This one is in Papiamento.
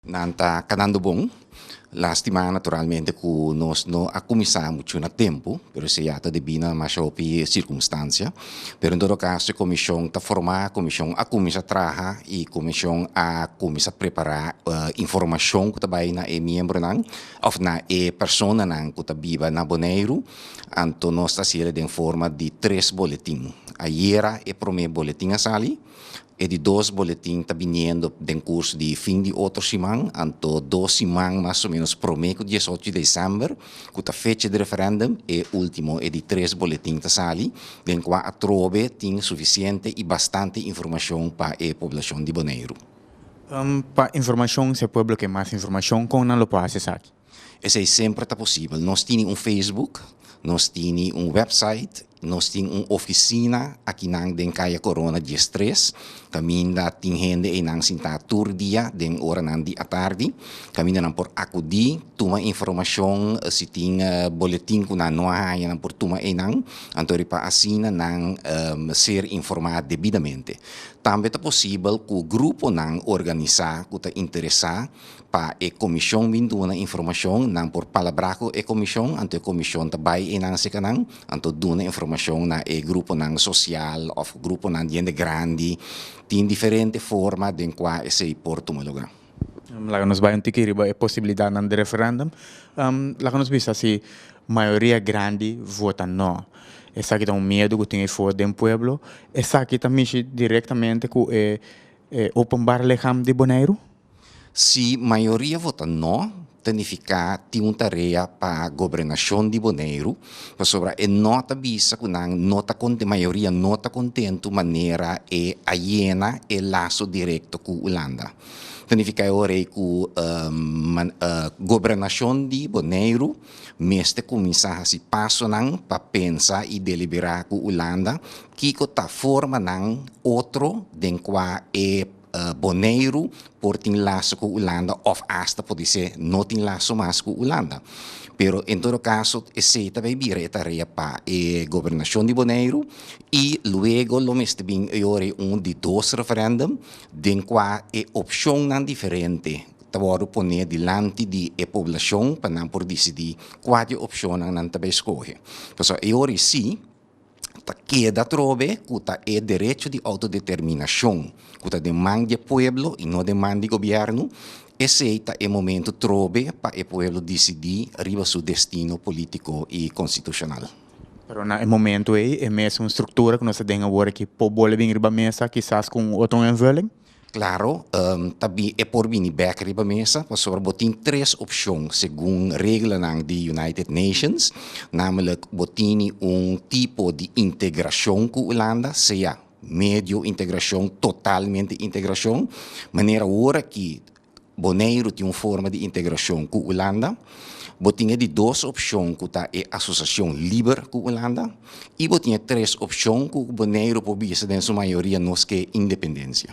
Nan ta kanando bon. Lastima naturalmente ku nos no a kuminsá muchu na tempu, pero esei ya ta debí na masha hopi sirkunstansia. Pero en todo kaso e komishon ta formá, komishon a kuminsá traha i komishon a kuminsá prepará informashon ku ta bai na e miembronan òf na e personanan ku ta biba na Boneiru. Anto nos ta hasié den forma di tres boletin. Ayera e promé boletin a sali, E di dos boletin ta biniendo den curso di fin di otro siman, anto dos siman mas o menos prome cu diesocho di december, cu ta fecha di referendum, e ultimo, e di tres boletin ta sali, den cua atrobe tin suficiente y bastante informacion pa e poblacion di Boneiru. Pa informacion, si e pueblo ke mas informacion, con nan lo por haci esaki? Esei semper ta posibel. Nos tini un Facebook, nos tini un website, nos tin un oficina akinan den Calle Corona dies tres, caminda tin hende einan sinta tur dia den oranan di atardi, caminda nan por acudi, tuma informacion, si tin boletin cu nan no a haya nan por tuma einan, anto riba asina nan ser informa debidamente. Tambe ta posibel cu gruponan organisa cu ta interesa, Pa e Comision bin duna informacion, nan por palabra cu e Comision, anto e Comision ta bay eynan sikanan, anto duna informacion na e gruponan social of gruponan di hende grandi. Tin diferente forma den cua esey por tuma lugar. Laga nos bay un tiki riba e posibilidadnan di referendum. Laga nos bisa si mayoria grandi vota no. Esaki ta un miedu cu tin ey for den pueblo. Esaki ta mishi directamente cu e Openbaar Lichaam di Boneiru? Si mayoria vota no, ta nifiká tin un tarea pa Gobernashon di Boneiru, pasobra e no ta bisa ku nan no ta kontentu, mayoria no ta kontentu manera e a yena e laso direkto ku Ulanda. Ta nifiká e ora ei ku Gobernashon di Boneiru mester kuminsá hasi pasonan pa pensa i deliberá ku Ulanda kiko ta forma nan otro den kua e Boneiru por tin laso ku Ulanda òf asta por disé no tin laso mas ku Ulanda. Pero en todo kaso esei ta bay bira e tarea pa e Gobernashon di Boneiru i luego lo mester bin yori un di dos referèndum den kua e opshonnan diferente ta wòrdu pone dilanti di e poblashon pa nan por disidí kua di e opshonnan nan ta bay skohe. Pasobra yori sí. ta keda atrobe ku ta e derecho di outodeterminashon ku ta den man di e pueblo i no den man di gobièrnu, esei ta e momentu trobe pa e pueblo disidí riba su destino polítiko i konstitushonal. Pero na e momentu ei, e mesun struktura ku nos ta den awor aki por bole bin riba mesa kisas ku un otro envulling. Claro, ta bi e por bini bek riba mesa pasobra bo tin tres opcion segun reglanan di United Nations, namelak bo tini un tipo di integracion cu Hulanda, sea medio integracion, totalmente integracion, manera awor aki, Boneiru tin un forma di integrashon ku Ulanda. Bo tin e di dos opshon ku ta e asosiashon liber ku Ulanda i bo tin e tres opshon ku Boneiru por bisa den su mayoria nos ke independensia.